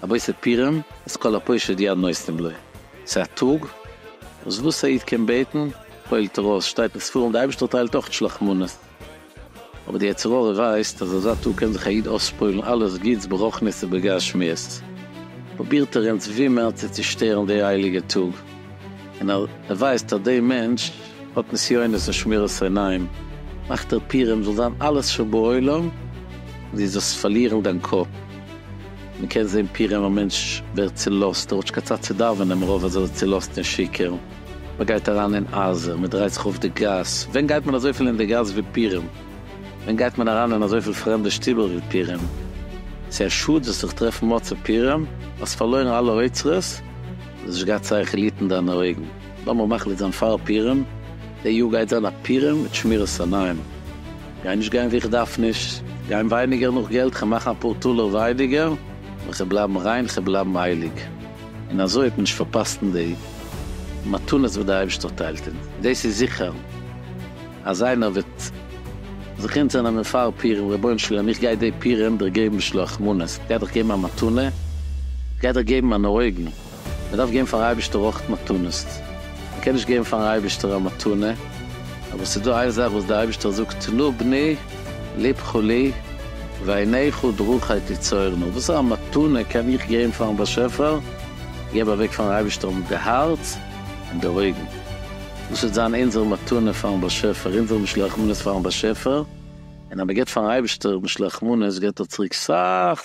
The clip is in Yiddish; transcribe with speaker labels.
Speaker 1: רבותי ס'איז פורים, אז כל הפושט יד נושאים בלא. ס'איז א טאג וואס וואס א איד קען בעטן, הוילט ער אויס, שטייט אין ספרים, די אייבערשטער טיילט אויך שלח מנות. אבער די יצר הרע ווייסט אז אזא טאג קען זיך א איד אויספוילן אלעס גוטס ברוחנית ובגשמיות, פרובירט ער אונז ווי מער צו צושטערן די הייליגע טאג, און אז ער ווייסט אז די מענטש האט נסיונות און שמירת עיניים, מאכט ער פירעם זאל זיין אלעס שבעולם און דו זאלסט פארלירן דיין קאפ, מען קען זען פירעם א מענטש ווערט צולאזט, ער האט נישט קיין צייט צו דאווענען מרוב אז ער איז צולאזט און שיכור. מען גייט אריין אין עזה, מען דרייט זיך אויף די גאס, ווען גייט מען אזויפיל אין די גאס ווי פורים? ווען גייט מען אריין אין אזויפיל פרעמדע שטיבעל ווי פורים? ס'איז א שאד זיך צו טרעפן מוצאי פורים, האסט פארלוירן אלע אוצרות, האסט נישט געהאט צייך ליעט אין דיינע אויגן, לאמיר מחליט זיין פאר פורים, די יאר גייט זיין א פורים מיט שמירת עניים, כ'גיי נישט גיין ווי איך דארף נישט, גיין ווייניגער נאך געלט, כ'מאכן אפאר טאלער ווייניגער, און כ'בלייבן ריין, כ'בלייבן הייליג. און אזוי האט מען נישט פארפאסט אין די מתנות וואס די אייבישטער טיילט אונז, דאס איז זיכער אז איינער וועט זיך אונטער נעמען פאר פורים, רבונו של עולם איך גיי די פורים דיר געבן שלח מנות, איך גיי דיך געבן א מתנה, איך גיי דיך געבן מיינע אויגן, מען דארף געבן פארן אייבישטער אויך מתנות, מען קען נישט געבן פארן אייבישטער א מתנה, אבער עס איז דא איין זאך וואס די אייבישטער זאגט תנו בני. לבך לי, ועיניך דרכי תצורנה, וואס פאר א מתנה קען איך געבן פארן באשעפער, געב אוועק פארן אייבישטערן די הארץ און די אויגן, דאס וועט זיין אונזער מתנה פארן באשעפער, אונזער משלוח מנות פארן באשעפער, און אז מען געבט פארן אייבישטער משלוח מנות, געבט ער צוריק סאך,